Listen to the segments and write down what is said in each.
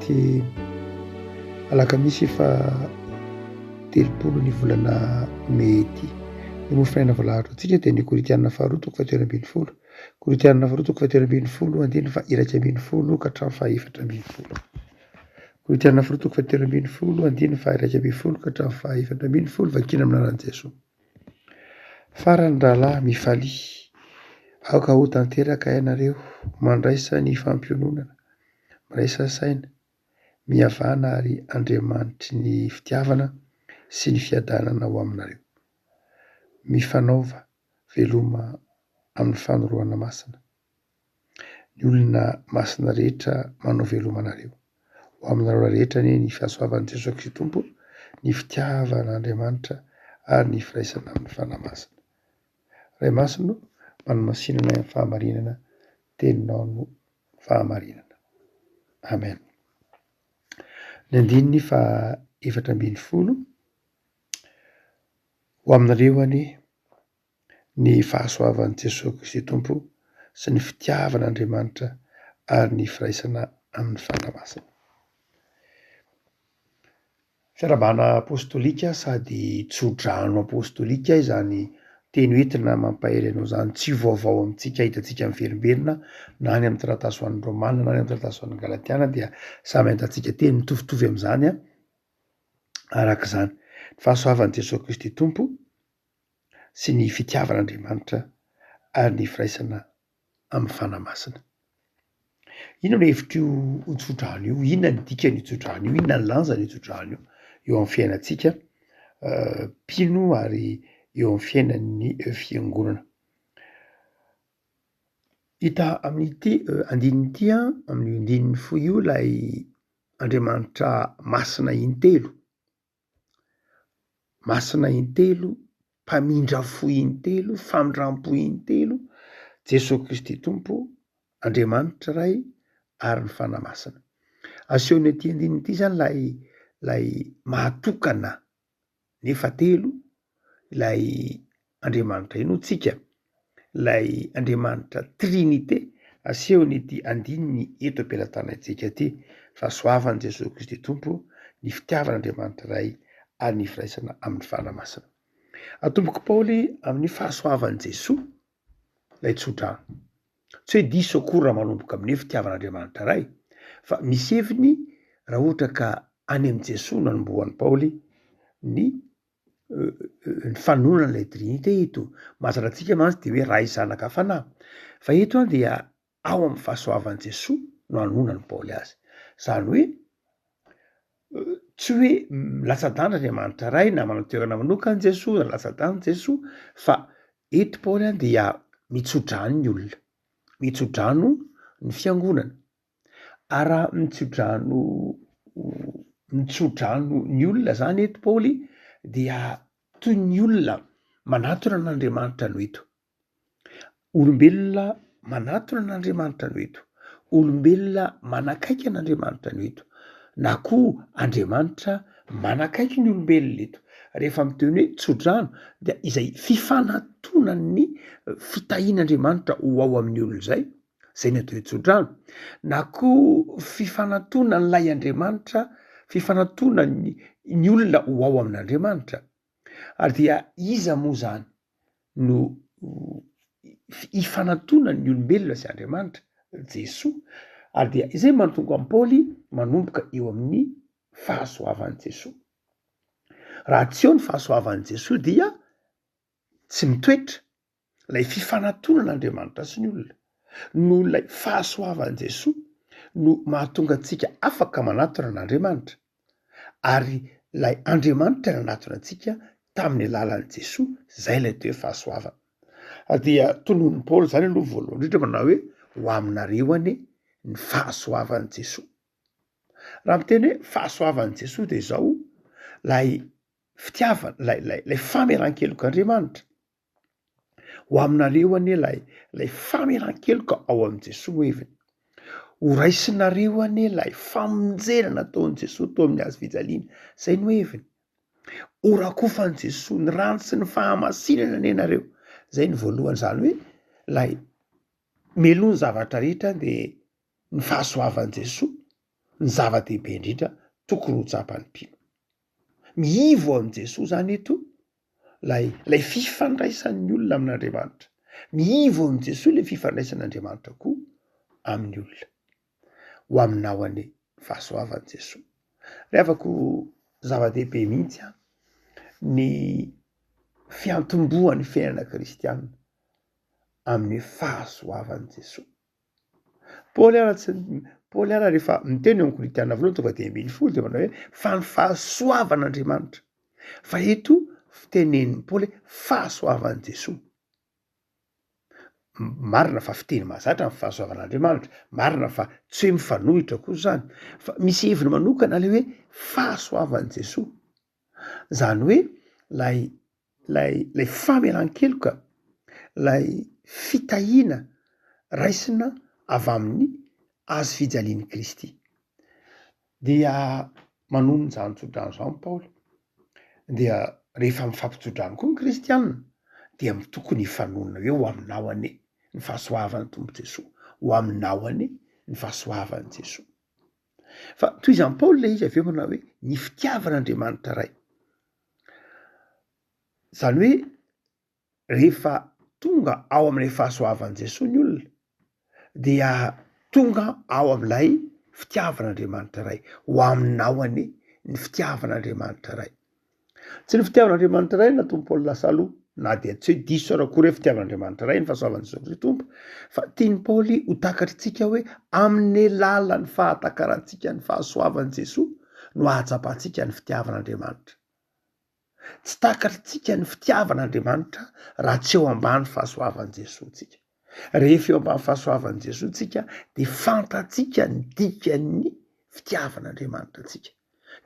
Ity alakamisy efa telopolo ny volana mey ity ny mofo fiainana voalaharitra antsika dia ny koritianina faharoa toko fahatelo ambin'ny folo koritianina faharoa toko fahatelo ambin'ny folo andiny fa iraika ambin'ny folo ka hatramin'ny fahefatra ambin'ny folo koritianina faharoa toko fahatelo ambin'ny folo andiny fa iraika ambin'ny folo ka hatramin'ny fahefatra ambin'ny folo vakina amin'ny anaran'i Jesoa farany rahalahy mifalia aoka ho tanteraka ianareo mandraisa ny fampiononana miraisa saina, mihavana ary Andriamanitry ny fitiavana sy ny fiadanana ho aminareo. Mifanaova veloma amin'ny fanorohana masina. Ny olona masina rehetra manao veloma anareo. Ho aminareo rehetra anie ny fahasoavan'i Jesoa Kristy Tompo, ny fitiavan'Andriamanitra ary ny firaisana amin'ny Fanahy Masina. Ray Masina o, manomasinana ny fahamarinana teninao no fahamarinana. Amen. Ny andininy faha efatra ambin'ny folo, ho aminareo anie ny fahasoavan'i Jesoa Kristy Tompo sy ny fitiavan'Andriamanitra ary ny firaisana amin'ny Fanahy Masina. Fiarahabana apostolika sady tso-drano apostolika izany teny hoe entina mampahery anao izany, tsy vaovao amintsika hitantsika miverimberina na any amin'ny taratasy ho an'ny Romana na any amin'ny taratasy ho an'ny Galatiana dia samy ahitantsika teny mitovitovy amin'izany araka izany. Ny fahasoavan'i Jesoa Kristy Tompo sy ny fitiavan'Andriamanitra ary ny firaisana amin'ny Fanahy Masina. Inona no hevitr'io tsodrano io? Inona ny dikan'io tsodrano io? Inona ny lanjan'io tsodrano io eo amin'ny fiainantsika mpino ary eo amin'ny fiainan'ny fiangonana? Hita amin'ity andininy ity amin'ny andininy fohy io ilay Andriamanitra masina intelo Masina intelo, mpamindra fo intelo, famindram-po intelo, Jesoa Kristy Tompo, Andriamanitra Ray ary ny Fanahy Masina. Asehon'ny ity andininy ity izany ilay ilay maha tokana nefa telo ilay Andriamanitra inoa tsika, ilay Andriamanitra Trinite asehon'ity andininy eto am-pelatanantsika ity fa soavan'i Jesoa Kristy Tompo ny fitiavan'Andriamanitra Ray ary ny firaisana amin'ny Fanahy Masina. Atombok'i Paoly amin'ny fahasoavan'i Jesoa ilay tsodrano. Tsy hoe diso akory raha manomboka amin'ny hoe fitiavan'Andriamanitra Ray fa misy heviny raha ohatra ka any amin'i Jesoa nanombohan'i Paoly ny ny fanononana ilay Trinite eto. Mazatra antsika mantsy dia hoe Ray, Zanaka, Fanahy. Fa eto an dia ao amin'ny fahasoavan'i Jesoa no anononan'i Paoly azy. Izany hoe tsy hoe latsa-danja Andriamanitra Ray na manana toerana manokana Jesoa na latsa-danja Jesoa fa eto Paoly an dia mitso-drano ny olona, mitso-drano ny fiangonana. Ary raha mitsodrano mitsodrano ny olona zany eto Paoly dia toy ny olona manatona an'Andriamanitra no eto. Olombelona manatona an'Andriamanitra no eto. Olombelona manakaiky an'Andriamanitra no eto. Na koa Andriamanitra manakaiky ny olombelona eto. Rehefa miteny hoe tsodrano dia izay fifanatonan'ny fitahian'Andriamanitra ho ao amin'ny olona izay izay ny atao hoe tsodrano na koa fifanatonan'ilay Andriamanitra, fifanatonan'ny ny olona ho ao amin'Andriamanitra. Ary dia iza moa izany no ifanatonan'ny olombelona sy Andriamanitra? Jesoa. Ary dia izay mahatonga an'i Paoly manomboka eo amin'ny fahasoavan'i Jesoa. Raha tsy eo ny fahasoavan'i Jesoa dia tsy mitoetra ilay fifanatolona Andriamanitra sy ny olona, noho ilay fahasoavan'i Jesoa no mahatonga antsika afaka manatona an'Andriamanitra, ary ilay Andriamanitra nanatona antsika tamin'ny alalan'i Jesoa, izay ilay toe fahasoavana. Dia tononon'i Paoly izany aloha voalohany indrindra manao hoe ho aminareo anie ny fahasoavan'i Jesoa. Raha miteny hoe fahasoavan'i Jesoa dia izao ilay fitiavana, ilay ilay ilay famelan-kelok'Andriamanitra. Ho aminareo anie ilay ilay famelan-keloka ao amin'i Jesoa no heviny. Ho raisinareo anie ilay famonjena nataon'i Jesoa tao amin'ny hazo fijaliana. Izay no heviny. Ho rakofan'i Jesoa ny rano sy ny fahamasinana anie ianareo. Izay ny voalohany izany hoe ilay meloa ny zavatra rehetra dia ny fahasoavan'i Jesoa ny zava-dehibe indrindra tokony ho tsapan'ny mpino. Mihivo amin'i Jesoa izany eto Ilay ilay fifandraisan'ny olona amin'Andriamanitra. Miivo amin'i Jesoa ilay fifandraisan'Andriamanitra koa amin'ny olona. Ho aminao anie fahasoavan'i Jesoa. Ry havako zava-dehibe mihitsy an ny fiantombohan'ny fiainana kristianina amin'ny fahasoavan'i Jesoa. Paoly ara tsy Paoly ara rehefa miteny eo amin'ny Korintiana voalohany tonga dia ambin'ny folo dia manao hoe fa ny fahasoavan'Andriamanitra. Fa eto fitenenin'i Paoly fahasoavan'i Jesoa. Marina fa fiteny mahazatra ny fahasoavan'Andriamanitra, marina fa tsy hoe mifanohitra koa izany fa misy heviny manokana ilay hoe fahasoavan'i Jesoa. Izany hoe ilay ilay ilay famelan-keloka, ilay fitahiana raisina avy amin'ny hazo fijalian'i Kristy. Dia manonona izany tsodrano izany Paoly dia rehefa mifampitso-drano koa ny kristiana dia tokony hifanonona hoe ho aminao anie ny fahasoavan'ny Tompo Jesoa, ho aminao anie ny fahasoavan'i Jesoa. Fa tohizan'i Paoly ilay izy avy eo manao hoe ny fitiavan'Andriamanitra Ray. Izany hoe rehefa tonga ao amin'ilay fahasoavan'i Jesoa ny olona dia tonga ao amin'ilay fitiavan'Andriamanitra Ray, ho aminao anie ny fitiavan'Andriamanitra Ray. Tsy ny fitiavan'Andriamanitra iray no nahatonga Paoly lasa aloha, na dia tsy hoe diso aza akory hoe fitiavan'Andriamanitra iray ny fahasoavan'i Jesoa Kristy Tompo, fa tian'i Paoly ho takatr'itsika hoe amin'ny alalan'ny fahatakarantsika ny fahasoavan'i Jesoa no hahatsapantsika ny fitiavan'Andriamanitra. Tsy takatr'itsika ny fitiavan'Andriamanitra raha tsy eo ambany fahasoavan'i Jesoa tsika. Rehefa eo ambany fahasoavan'i Jesoa tsika de fantatsika ny dikan'ny fitiavan'Andriamanitra antsika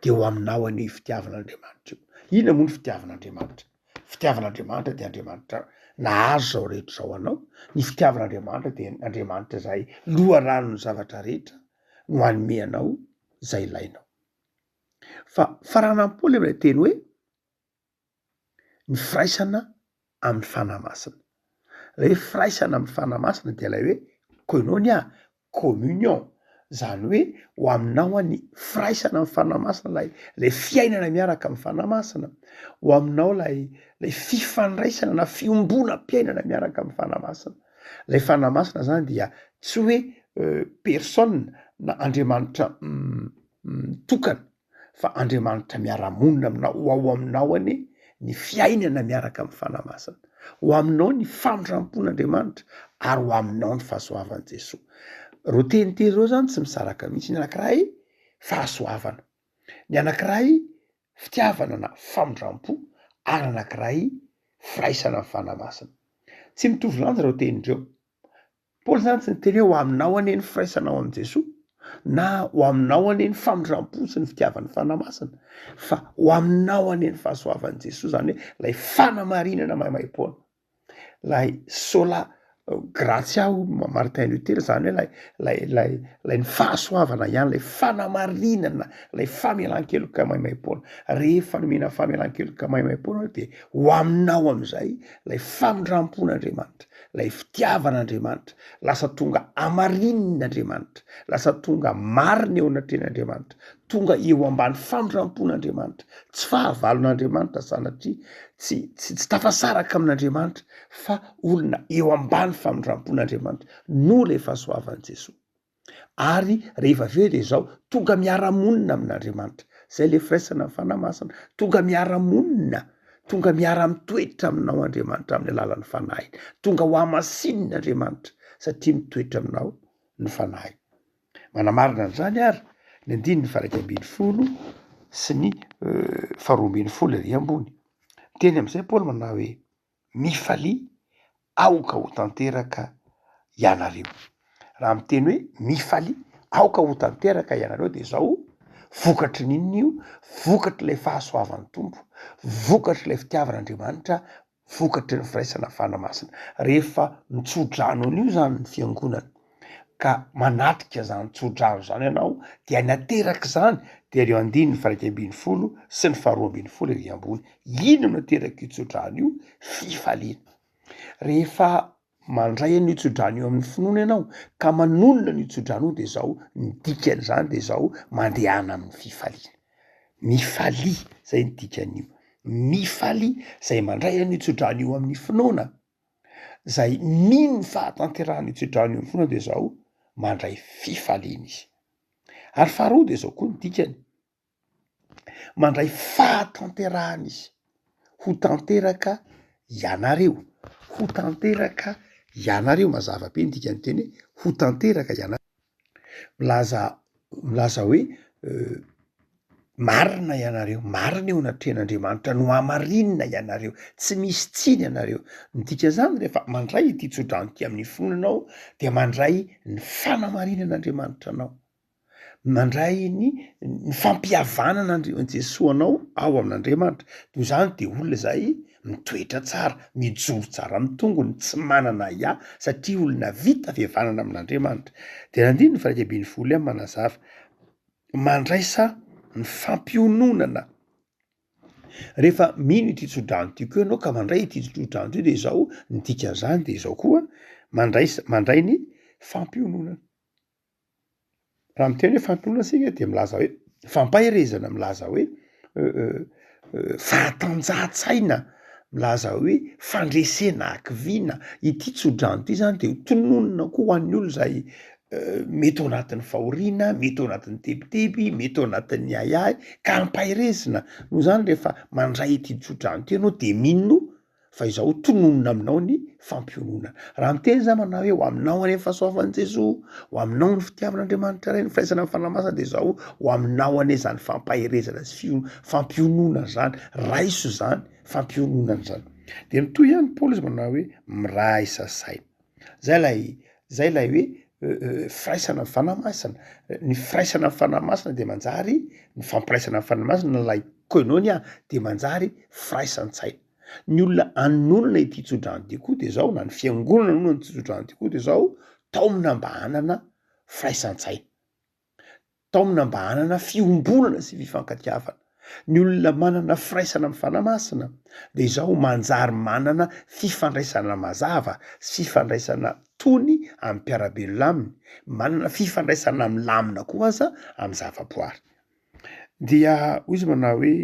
de ho aminao anie io fitiavan'Andriamanitra io. Inona moa ny fitiavan'Andriamanitra? Fitiavan'Andriamanitra de Andriamanitra nahazo zao rehetra zao anao, ny fitiavan'Andriamanitra de Andriamanitra zay loharanon'ny zavatra rehetra no hanome anao zay ilainao. Fa faranam-po le mlay teny hoe. ny firaisana amin'ny Fanahy Masina. Ilay hoe firaisana amin'ny Fanahy Masina dia ilay hoe koinonia, communion, izany hoe ho aminao ny firaisana amin'ny Fanahy Masina, ilay ilay fiainana miaraka amin'ny Fanahy Masina, ho aminao ilay ilay fifandraisana na fiombonam-piainana miaraka amin'ny Fanahy Masina. Ilay Fanahy Masina izany dia tsy hoe personne na Andriamanitra mitokana. fa Andriamanitra miara-monina aminao, ho ao aminao anie ny fiainana miaraka amin'ny Fanahy Masina, ho aminao ny famindram-pon'Andriamanitra ary ho aminao ny fahasoavan'i Jesoa. Ireo teny telo ireo zany tsy misaraka mihitsy, ny anankiray fahasoavana, ny anankiray fitiavana na famindram-po ary anankiray firaisana ny Fanahy Masina. Tsy mitovy lanja ireo teny ireo, Paoly izany tsy niteny hoe ho aminao anie ny firaisana ao amin'i Jesoa na ho aminao anie ny famindram-po sy ny fitiavan'ny Fanahy Masina fa ho aminao anie ny fahasoavan'i Jesoa izany hoe ilay fanamarinana maimaim-poana. Ilay sola gratia ho Martin Luther izany hoe ilay ilay ilay ilay ny fahasoavana ihany ilay fanamarinana ilay famelan-keloka maimaim-poana. Rehefa nomena famelan-keloka maimaim-poana dia ho aminao amin'izay ilay famindram-pon'Andriamanitra. ilay fitiavan'Andriamanitra, lasa tonga hamarinina Andriamanitra, lasa tonga marina eo anatrehan'Andriamanitra, tonga eo ambany famindrampon'Andriamanitra, tsy fahavalon'Andriamanitra sanatria tsy tsy tsy tafasaraka amin'Andriamanitra fa olona eo ambany famindrampon'Andriamanitra noho ilay fahasoavan'i Jesoa. ary rehefa avy eo dia izao tonga miara-monina amin'Andriamanitra izay le firaisana ny fanahy masina tonga miara-monina tonga miara-mitoetra aminao Andriamanitra amin'ny alalan'ny fanahiny tonga ho hamasinina Andriamanitra satria mitoetra aminao ny fanahy manamarina an'izany ary ny andininy faraika ambin'ny folo sy ny euh, faharoambin'ny folo ary ambony teny amin'izay Paoly manao hoe mifalia aoka ho tanteraka ianareo. Raha miteny hoe mifalia aoka ho tanteraka ianareo dia izao, vokatry ny inona io? Vokatr'ilay fahasoavan'ny Tompo, vokatr'ilay fitiavan'Andriamanitra, vokatry ny firaisana fanahy masina. Rehefa mitso-drano an'io izany ny fiangonana. ka manatrika izany tsodrano izany ianao dia ny ateraka izany dia ireo andininy faraika ambin'ny folo sy ny faharoa ambin'ny folo ery ambony ino no ateraka io tsodrano io fifaliana rehefa mandray an'io tsodrano io amin'ny finoana ianao ka manonona ny tsodrano io dia izao ny dikany izany dia izao mandehana amin'ny fifaliana mifalia izay ny dikan'io mifalia izay mandray an'io tsodrano io amin'ny finoana izay mino ny fahatanterahan'io tsodrano io foana dia izao mandray fifaliana izy. Ary faharoa dia izao koa ny dikany, mandray fahatanterahana izy, ho tanteraka ianareo, ho tanteraka ianareo, mazava be ny dikan'ny teny hoe ho tanteraka ianareo. milaza milaza hoe marina ianareo, marina eo anatrehan'Andriamanitra, nohamarinina ianareo, tsy misy tsiny ianareo. Ny dikan'izany rehefa mandray ity tsodrano ity amin'ny fony ianao dia mandray ny fanamarinan'Andriamanitra anao, mandray ny ny fampihavanana Andr- Jesoa anao ao amin'Andriamanitra, noho izany de olona zay Mitoetra tsara, mijoro tsara amin'ny tongony, tsy manana ahiahy satria olona vita fihavanana amin'Andriamanitra. Dia nandiny ny firaika ambin'ny folo iany manazava, mandraisa ny fampiononana. Rehefa mino ity tsodrano ity koa ianao ka mandray ity tsodrano ity dia izao ny dikan'izany dia izao koa mandraisa mandray ny fampiononana. Raha miteny hoe fampinoana isika dia milaza hoe fampaherezana, milaza hoe fahatanjahantsaina, milaza hoe fandresena hakiviana. Ity tsodrano ity zany dia tononina koa ho an'ny olona izay mety ao anatin'ny fahoriana, mety ao anatin'ny tebiteby, mety ao anatin'ny ahiahy ka ampaherezina. Noho izany rehefa mandray ity tsodrano ity ianao dia mino. fa izaho tononina aminao ny fampiononana. Raha miteny izaho manao hoe ho aminao anie ny fahasoavan'i Jesoa, ho aminao ny fitiavan'Andriamanitra Ray, ny firaisana amin'ny Fanahy Masina dia izaho ho aminao anie izany fampaherezana sy fio- fampiononana izany, raiso izany fampiononana izany. Dia mitohy ihany Paoly izy manao hoe miraisa saina. Zay lay zay lay hoe firaisana ny Fanahy Masina. Ny firaisana ny Fanahy Masina dia manjary, ny fampiraisana ny Fanahy Masina, lay koinonia dia manjary firaisan-tsaina. Ny olona anonona ity tsodrano ity koa dia zao na ny fiangonana anonona ity tsodrano ity koa dia zao, taomina mba hanana firaisan-tsaina. taomina mba hanana fiombonana sy fifankatiavana. Ny olona manana firaisana amin'ny Fanahy Masina dia izao manjary manana fifandraisana mazava sy fifandraisana tony amin'ny mpiara-belona aminy, manana fifandraisana milamina koa aza amin'ny zavaboary. Dia hoy izy manao hoe,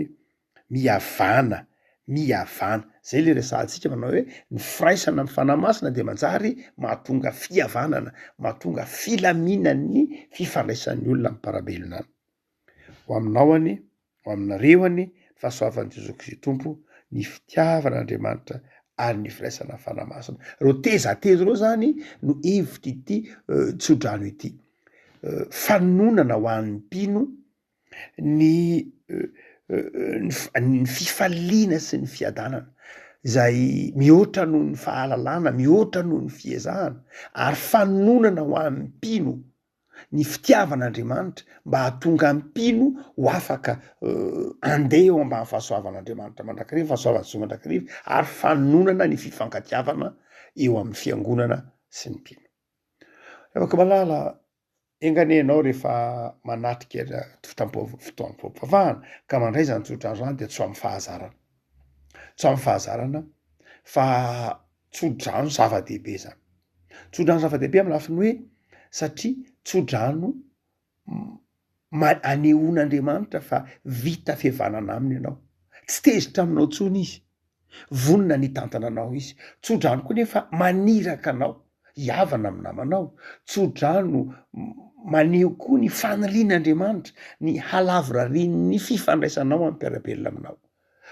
Mihavàna, mihavàna. Zay le resahantsika manao hoe ny firaisana amin'ny Fanahy Masina dia manjary mahatonga fihavanana, mahatonga filaminan'ny fifandraisan'ny olona amin'ny mparabelona any. Ho aminao anie, ho aminareo anie ny fahasoavan'i Jesoa Kristy Tompo, ny fitiavan'Andriamanitra ary ny firaisana amin'ny Fanahy Masina. Reo teza telo reo zany no hevitr'ity tsodrano ity. Fanononana ho an'ny mpino ny ny fifaliana sy ny fiadanana izay mihoatra noho ny fahalalana, mihoatra noho ny fiezahana ary fanononana ho an'ny mpino ny fitiavan'Andriamanitra mba hahatonga ny mpino ho afaka handeha eo ambany fahasoavan'Andriamanitra mandrakariva, fahasoavan'i Jesoa mandrakariva ary fanononana ny fifankatiavana eo amin'ny Fiangonana sy ny mpino. Ry havako malala, Enga anie ianao rehefa manatrika fotoam-pivavahana ka mandray izany tsodrano izany dia tsoamin'ny fahazarana. Tsoamin'ny fahazarana fa tsodrano zava-dehibe izany. Tsodrano zava-dehibe amin'ny lafiny hoe satria tsodrano ma anehoan'Andriamanitra fa vita fihavanana aminy ianao. Tsy tezitra aminao intsony izy. Vonona ny hitantana anao izy. Tsodrano koa nefa maniraka anao hihavana amin'ny namanao. Tsodrano maneho koa ny fanirian'Andriamanitra ny halavorarian'ny fifandraisanao amin'ny mpiara-belona aminao.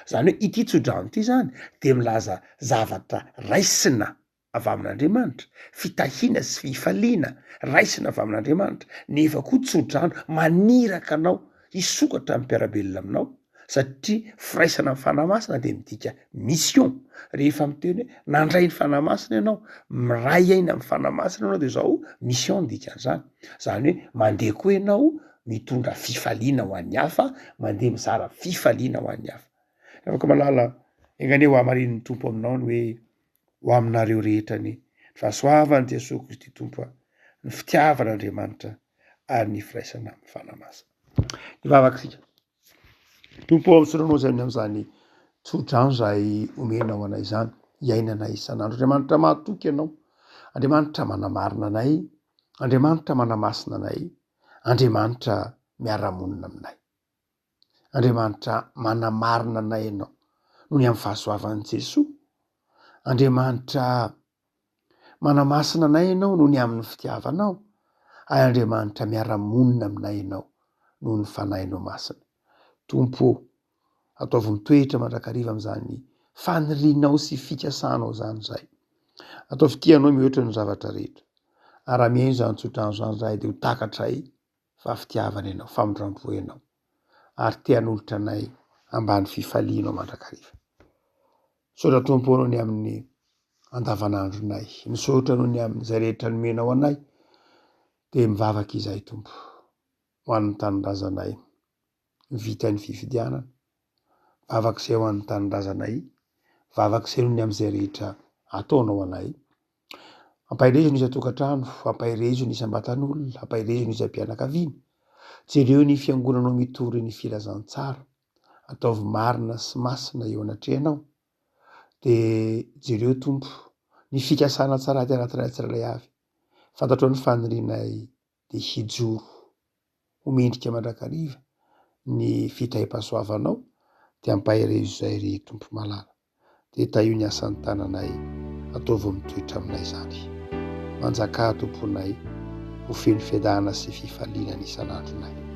Izany hoe ity tsodrano ity izany dia milaza zavatra raisina avy amin'Andriamanitra, fitahiana sy fifaliana raisina avy amin'Andriamanitra, nefa koa tso-drano maniraka anao hisokatra amin'ny mpiara-belona aminao, satria firaisana amin'ny Fanahy Masina dia midika mission. Rehefa miteny hoe nandray ny Fanahy Masina ianao, miray aina amin'ny Fanahy Masina ianao dia izao mission no dikan'izany, izany hoe mandeha koa ianao mitondra fifaliana ho an'ny hafa, mandeha mizara fifaliana ho an'ny hafa. Ry havako malala, enga anie hohamarinin'ny Tompo aminao ny hoe Ho aminareo rehetra ny fahasoavan'i Jesoa Kristy Tompo a, ny fitiavan'Andriamanitra ary ny firaisana amin'ny Fanahy Masina. Hivavaka isika. Tompo ao Soronao izay ny amin'izany tsodrano izay omenao anay izany, hiainana isan'andro. Andriamanitra mahatoky Ianao, Andriamanitra manamarina anay, Andriamanitra manamasina anay, Andriamanitra miara-monina aminay. Andriamanitra manamarina anay ianao noho ny amin'ny fahasoavan'i Jesoa. Andriamanitra manamasina anay ianao noho ny amin'ny fitiavanao. Ary Andriamanitra miara-monina aminay ianao noho ny fanahinao masina. Tompo ô, ataovy mitoetra mandrakariva amin'izany fanirianao sy fikasanao izany izahay. Ataovy tianao mihoatra ny zavatra rehetra. Ary raha mihaino izany tsodrano izany izahay dia ho takatray. fa fitiavana ianao, famindrampo ianao, ary te hanolotra anay ambany fifalianao mandrakariva. Misaotra Tompo anao ny amin'ny andavanandronay. Misaotra anao ny amin'izay rehetra nomenao anay. Dia mivavaka izahay Tompo ho an'ny tanindrazanay vita ny fifidianana. Vavak'izay ho an'ny tanindrazanay, vavak'izay ho amin'izay rehetra ataonao ho anay. Ampaherezo ny isan-tokantrano, ampaherezo ny isam-batan'olona, ampaherezo ny isam-pianakaviana. Jereo ny fiangonanao mitory ny filazantsara, ataovy marina sy masina eo anatrehanao. Dia jereo Tompo ny fikasana tsara aty anatinay tsirairay avy. Fantatrao ny fanirianay. dia hijoro ho mendrika mandrakariva ny fitahiam-pahasoavanao dia ampahireo izay ry Tompo malala dia tahio ny asan'ny tananay ataovy mitoetra aminay izany manjakà tomponay ho feno fiadanana sy fifaliana ny isan'andronay